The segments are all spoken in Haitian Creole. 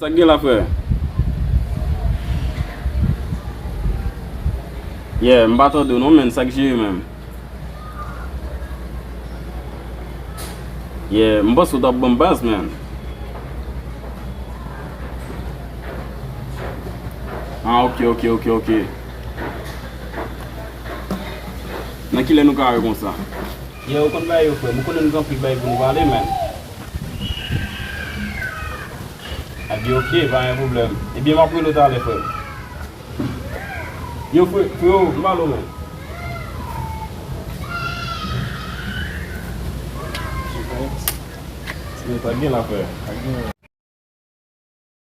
Sak gen la frè? Yeah m pa tande w non menn sak jere menm? Yeah m panse w tap banm baz menn? Ah ok ok ok ok Nan kilè nou ka wè konsa? Yeah ou konn bagay yo frèm ou konnen nou gen anpil bagay pou nou pale menn Aby ok pa gen problèm ebyen map rele w talè frèm Yo fre freo m pale w menn. Yo pat gen la frè.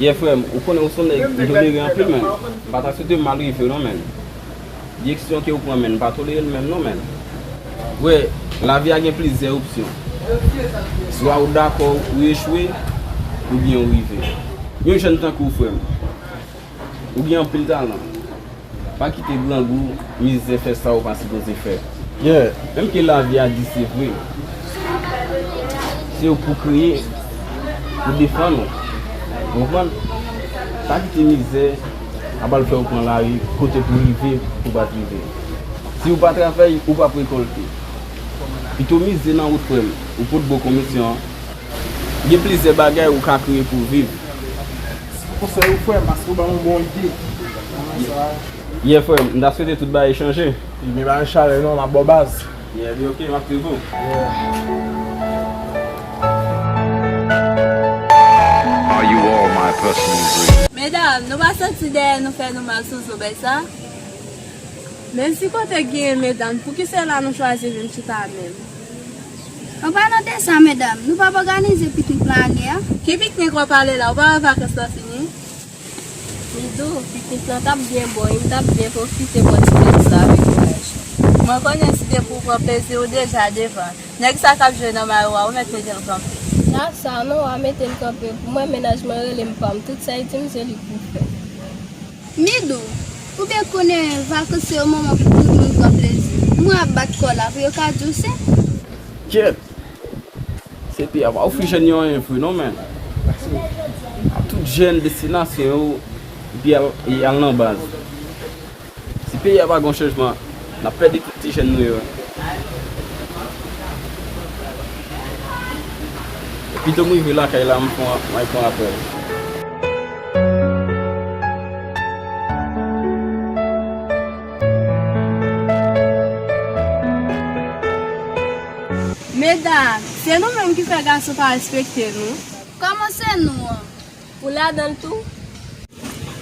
Yeah frèm ou konnen ou son nèg ou tolere anpil menn pa ta swete mal rivew non menn Direksyon kew pran menn mpa tolerel menm non menn Wè lavi a gen plizyè opsyon swa ou dakò ou echwe oubyen ou rive Yon jèn tankouw frèm ou gen anpil talan. Pa kite grangou, mizè fè sa ou pa sipoze fè. Menm ke lavi a di se vre, se ou pou kreye, pou defann ou. Ou konprann? Pa kite mizè ap al fè ou pran lari kote pou rive ou pa t rive. Si ou pa travay, ou p ap rekolte. Pito mize nan wout frè m, ou pot bon komisyon an. Gen plizyè bagay ou ka kreye pou viv. Mesi pou konsey ou frem paske ou banm yon bon ide nan sa a. Yeah frem, m ta swete tout bagay chanje. Ebyen pa gen chalè non, map baw baz. Yeah li ok, map swiv ou. Yeah. Medam, nou pa santi dèyè nou fè nou mal sou zo bèy sa? Menm si kote genyen medanm poukisela nou chwazi vin chita menm. An palan de sa medam, nou pap òganize piknik plan ane a? Ki piknik wap pale la, ou pa wè vakans lan fini? Midou, Piknik lan tap byen bon wi, m tap byen pwofite bò ti plezi m avèk mennaj mwen. Mwen konnen si depi ou pran plezi ou deja devan. Nèg sa kap jwe nan mayo a ou mèt mete l kanpe. Sa sa non, wa mete l kanpe pou mwen mennaj mwen rele m pam, tout sa li di m se li pou fè. Midou, Ou byen konnen vakans se yon moman pou tout moun pran plezi. Moun ap bat kò la pou yo ka di w se. Kyèt! Se pi apa ou fi jèn yo anyen vre non men. A tout jèn destinasyon yo epi y al nan baz. Si peyi a pa gen yon chanjman n ap pèdi tout ti jèn nou yo. Pito m rive lakay la m pran apèl. Meda, se nou menm ki fè gason pa respekte nou. Kòman se nou an? Ou ladan l tou?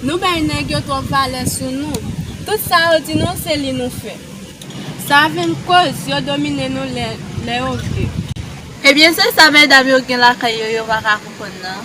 Nou bay nèg yo twòp valè sou nou. Tout sa yo di nou se li nou fè. Sa vin koz yo domine nou lè yo vle. Ebyen se sa medam yo gen lakay yo yo pa ka konprann nan?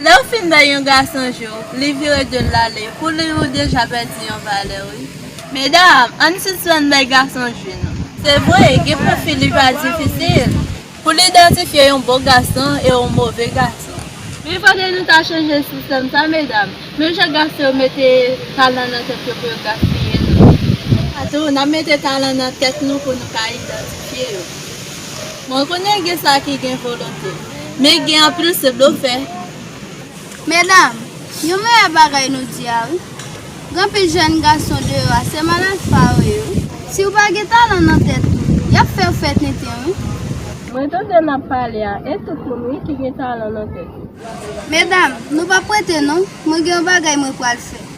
Lè ou fin bay yon gason je w, li vire do l ale, pou li ou deja pèdi yon valè wi. Medam, ann sispann bay gason je nou. Se vre, gen pwofil li pa difisil, pou l idantifye yon bon gason e yon move gason. Men fò ke nou ta chanje sistèm sa medam, menm jan gason yo mete talan nan tèt yo pou yo gaspiye l, nou tou, n ap mete talan nan tèt nou pou nou ka idantifye yo. Mwen konnen gen sa ki gen volonte. Men gen anpil se blofè. Medam, yon meyè bagay nou di a wi. Gen anpil jèn gason deyò a se malad fa yo ye wi. Si ou pa gen talan nan tèt ou, y ap fè ou fè tenten wi. Mwen tande n ap pale a e tout moun wi ki gen talan nan tèt yo. Medam, nou pa prete non. Mwen gen yon bagay mwen pral fè.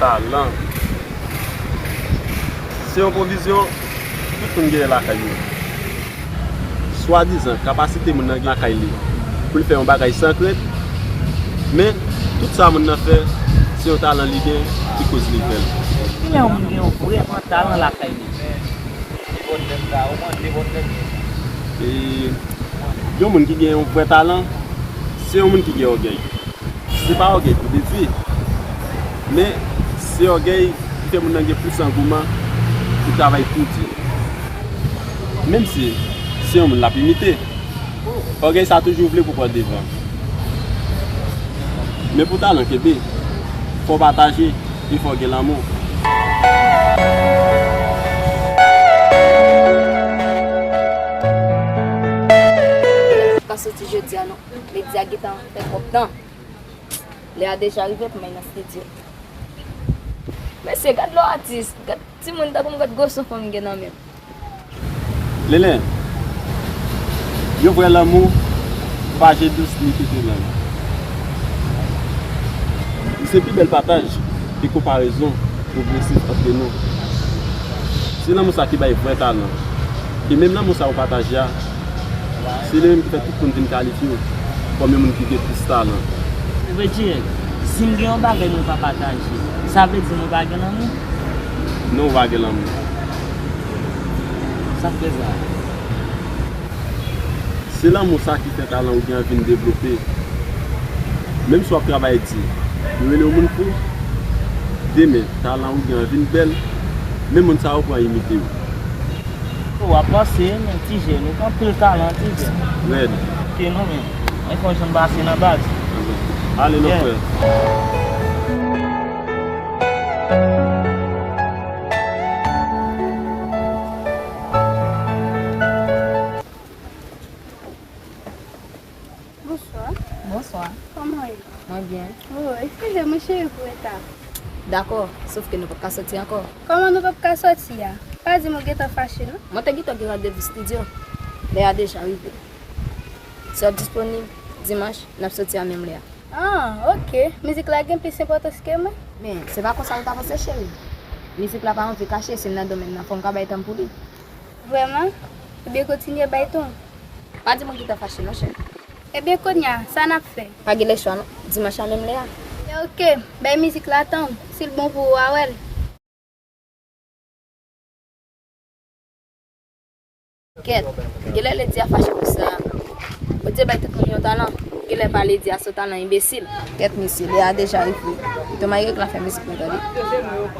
Talan se yon pwovizyon tout moun genyen lakay yo. Swadizan kapasite moun nan gen lakay li pou l fè yon bagay san krent, men tout sa moun nan fè se yon talan li gen ki koz li fè l. Ki lè yon moun gen yon vrè an talan lakay li? Yon moun ki gen yon vrè talan. Se yon moun ki gen ògèy. Se pa ògèy pou detwi, men se ògèy ki fè moun nan gen plis angouman pou travay pi di. Menm si se yon moun l ap imite, ògèy sa toujou vle pou pran devan. Men pou talan kenbe, fò w pataje e fò w gen lanmou. Jodia non media gentan fè trop tan lè a deja rive pou mwen nan studio mesye gad lò atis gad timoun tankoum gad gwo son fanm gen nan menm. Lele Yon vrè lanmou pa je dous ni fete lang Li se pi bèl pataj e konparezon pwogresif antre nou Se lanmou sa ki bay vrè talan E menm lanmou sa ou pataje a Se li menm ki fè tout moun vin kalifye yo kòm yon moun ki gen plis talan. Reginald, Si m gen yon bagay mwen pa pataje, sa vle di mwen pa gen lanmou? Non ou pa gen lanmou. Sa k fè sa? Se lanmou sa ki fè talan ou gen an vin devlope. Menm si w ap travay di, yo rele w moun fou, demen talan ou gen an vin bèl, men moun sa yo pran imite w. Ou ap panse men ti jèn ou anpil talan ti jèn. Red. Ke nou menm. Mwen konn janm pase nan baz. Ale lò frè. Bonswa. Bonswa. Koman ou ye? Mwen byen. Oh, eskize mwen cheri pou reta a. Dakò, sof ke nou pap ka soti ankò. Kòman nou pap ka soti a? Pa di m ou gentan fache non. Mwen te gentan gen randevou stidyo. Lè a deja rive. Si w ap disponib dimanch, n ap soti a menm lè a. Ah, ok. Mizik la gen plis enpòtans ke mwen? Men, se pa konsa ou ta panse cheri. Mizik la pa anvi kache si l nan domèn nan, fò m ka bay tan m pou li. Vrèman? Ebyen kontinye bay ton. Pa di mwen ki ta fache non chèf. Ebyen kounya sa nap fè? Pa gen lèchwa non. Dimanch la menm lè a. Ebyen ok, bay mizik la tan, si l bon pou ou wa wè l. Kèt, genlè Lady a fache pou sa. Bondye bay tout moun yon talan, genlè pa Lady a son talan enbesil. Kèt mesye, lè a deja rive. Ton Mayreg la fè mizik nou tande.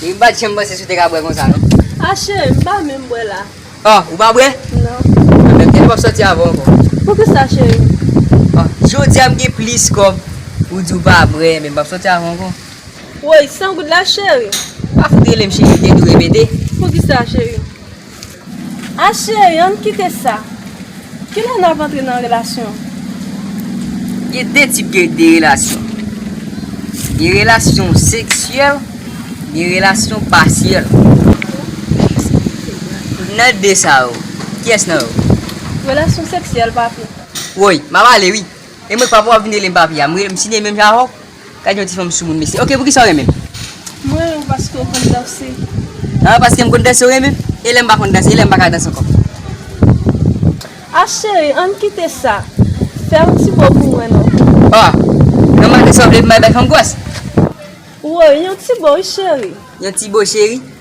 Wi m pat janm panse si w te ka bwè konsa non. Ah chéri m pa menm bwè la. Oh ou pa bwè? Non. Ebyen m te vle wap sòti avè w ankò. Poukisa chéri? Oh jodia m gen plis kòb ou di w pa bwè ebyen m pap sòti avè w ankò. Woy 100 goud la chéri? Pa fout rele m chéri m te di w repete. Poukisa chéri? Ah cheri ann kite sa. Kilè nap antre nan relasyon. Gen 2 tip de de relasyon. Gen relasyon seksyèl, gen relasyon pasyèl. Nan 2 sa yo, kiyès nan yo? Relasyon seksyèl papi. Woy, map ale wi. E mwen k pa pou wap vin rele m papi a. M rele m Sidney menm jan avè w? Gad yon ti fanm soumoun mesye. Ok poukisa ou renmen l? M renmen l paske ou konn danse. Ah paske m konn danse ou renmen m? E lè m pa konn danse? E lè m pa ka danse ankò? Ah cheri ann kite sa. Fè yon ti bo pou mwen non. Ah nan maten sa ou vle pou m al bay fanm gwas? Woy yon ti bo wi cheri. Yon ti bo cheri?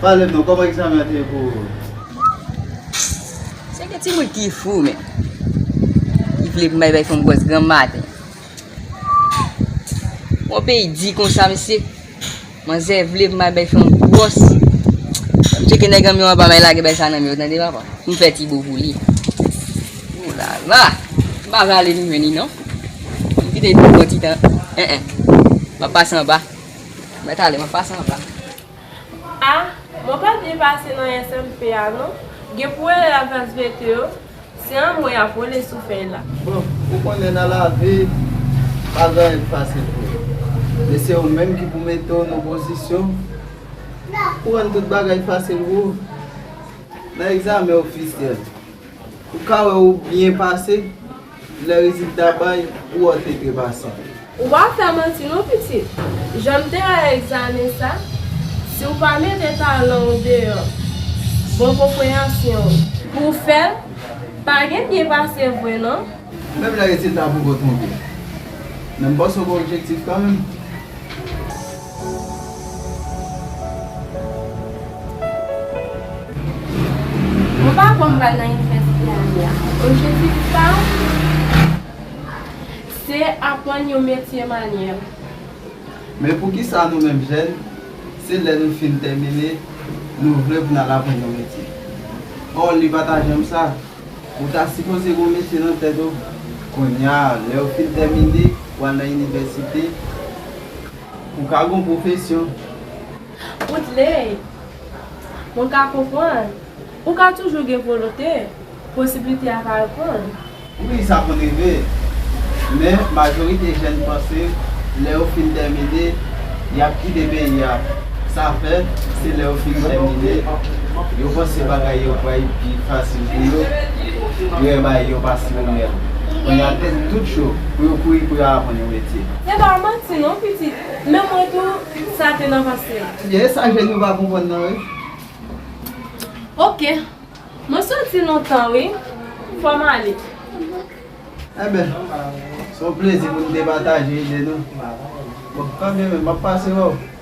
Pale non koman egzamen an te ye pou ou? Se gen timoun ki fou men. Ki vle bay bay fanm gwòs granm maten. Yon peyi di konsa mesye. Manzè vle bay bay fanm gwòs. Fanm cheke nèg anmè anba bay lage bay sa nan men ou tande papa. M fè ti bo pou li. Ou la la. M pa vle ale nou jwenn li non. M kite li pou yon bon ti tan. Eeh. M ap pase anba. Mwen tale mwen pase anba. A, mwen pa byen pase nan SMP a non. Gen pou rele la klas VT yo, se anmwe y ap rele sou fèy la. Bon, ou konnen nan lavi, pa gen anyen ki fasil pou yo. E se ou menm ki pou mete w nan pozisyon pou rann tout bagay fasil pou ou. Nan egzamen ofisyèl, ou ka wè ou byen pase. Lè rezilta bay, ou ot e trepasan. Ou pa fè manti non pitit. Jan m te wè egzamen sa, si w pa mete talan w deyò, bon konpreyansyon w. Pou w fè, pa gen byen pase vre non. Menm lè rezilta poko twonpe. Men m panse w gen objektif kanmenm. Mwen pa kwè m pral nan inivèsite ane a. Objektif pa m se aprann yon metye manyèl. Men poukisa nou menm jèn, se lè nou fin tèmine nou vle pou n al aprann yon metye? Ò li pa ta janm sa. Ou ta sipoze gen yon metye nan tèt ou kounye a, lè ou fin tèmine, ou al nan inivèsite. Pou ka gon pwofesyon. Pou t ley. Moun ka konprann. Ou ka toujou gen volonte. Posiblite a ka reponn. Wi sa konn rive. Men majorite jèn panse lè yo fin tèmine y ap kite peyi a. Sa fè se lè yo fin tèmine yo panse bagay yo pral pi fasil pou yo. Yo bay yon pas yon mèl. Kounye a tèt tout cho pou yo kouri pou yo aprann yon metye. Se pa manti non pitit, menm mwen tou sa te nan pansem. Ebyen e sa jèn yo pa konprann nan wi. Ok Mwen soti lontan wi fòm ale. Enben se yon plezi pou nou te pataje ide nou. Bon kanmenm map pase wè w.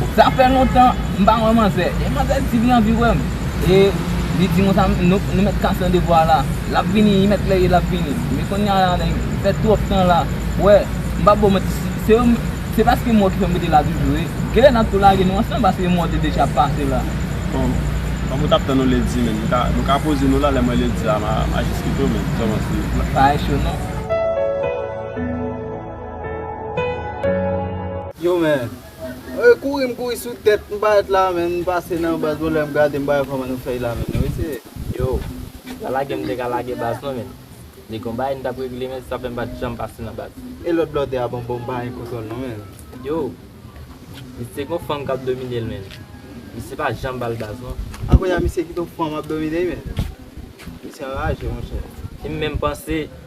Bon sa fè lontan m pa wè manzè e manzè di li anvi wèm e li dim konsa nou mèt kase nan devwa la lap vini li mèt lè ye lap vini men konnya la nèg fè twòp tan la wè m pap baw manti se paske m wèw ki fèm rete la toujou e genlè nap tou lage nou ansanm paske m wèw te deja pase la bon kòm ou tap tann yon ledi menn nou ka poze nou la lèm wè ledi a ma jis kite w menn sa w panse pa e cho non. Yo men Mwen kouri m kouri sou tèt m parèt la menm m pase nan baz mwen lè m gade m pa wè kòman nou fè la menm wi se. Yo la lage m te ka lage baz mwen menm li gon bagay m tap regle menm sa fè m pat janm pase nan baz. E lòt blòdè a bon bon m pa gen kontwòl non menm. Yo li se gon fanm kap domine l menm misye pa janm bal baz non. A kounya misye kite yon fanm ap domine l menm misye anraje monchè. Li menm panse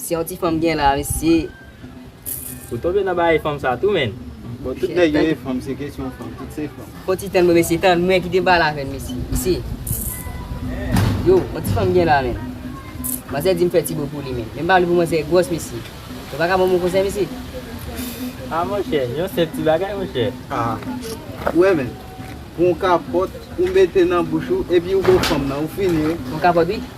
Se yon ti fanm gen la mesye. Ou tonbe nan bagay fanm sa tou menn. Bon tout nèg yo e fanm se kesyon fanm tout se fanm. Fon ti tann mwen mesye tann mwen ki te bal avèl mesye mesye Yo yon ti fanm gen la menn Manzè dim fè ti bo pou li menn men m pa vle pou manzè gwòs mesye Nou paka banm yon konsèy mesye Ah monchè yon senp ti bagay monchè Ah ou wè menn Pou yon kapòt ou mete nan bouch ou epi ou bo fanm nan ou fini wi Pou yon kapòt wi.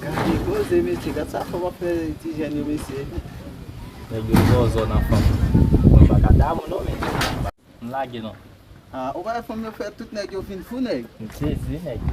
Gade koze mesye gad sa fanm ap fè ti jèn yo mesye. Nèg yo zòzò nan fanm. Mwen paka damou non men m lage non. Ah ou pa wè fanm yo fè tout nèg yo vin fou nèg. M sezi wi nèg yo.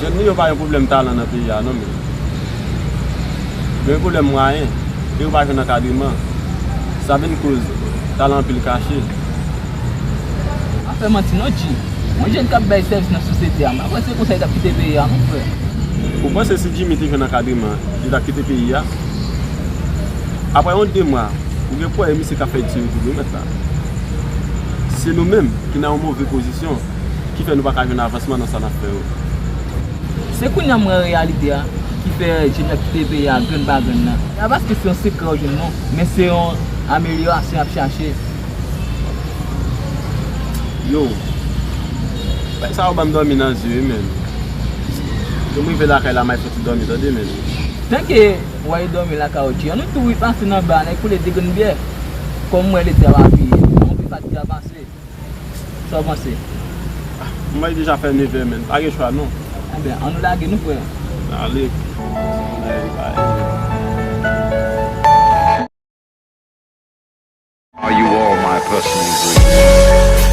Nèg nou yo pa gen pwoblèm talan nan peyi a non men yo gen pwoblèm mwayen e yo pa jwenn ankadreman sa vin koz talan anpil kache. Pa fè manti non G. Yon jèn kap bay sèvis nan sosyete a, mwen kwè se konsa li tap kite peyi a non frè. Ou panse si Jimmy te jwenn ankadreman li tap kite peyi a? Aprè yon 2 mwa ou gen pwè e misye kap fè di sou youtube wi mèt la. Se nou menm ki nan yon move pozisyon. ki fè nou pa ka jwenn avansman nan sa n ap fè yo. Se kounya m wè reyalite a ki fè jèn yo ap kite peyi a grenn pa grenn nan. Se pa paske se yon sekrè ou jwenn non, men se yon amelyorasyon y ap chache. Yo. Bagay sa yo ban m dòmi nan zye wi menn. Lè m rive lakay la m ay fouti dòmi tande menn. Tanke w ale dòmi lakay ou Jean nou tou wi pase nan ba a nèk koule 2 grenn byè. Kòm m wè lete a pa peye, anpil pa t gen avanse. Sa w panse? M bay deja fè nevè menn, pa gen chwa non. Enben, an nou lage nou frè. Ale. Are you all my personal greatness?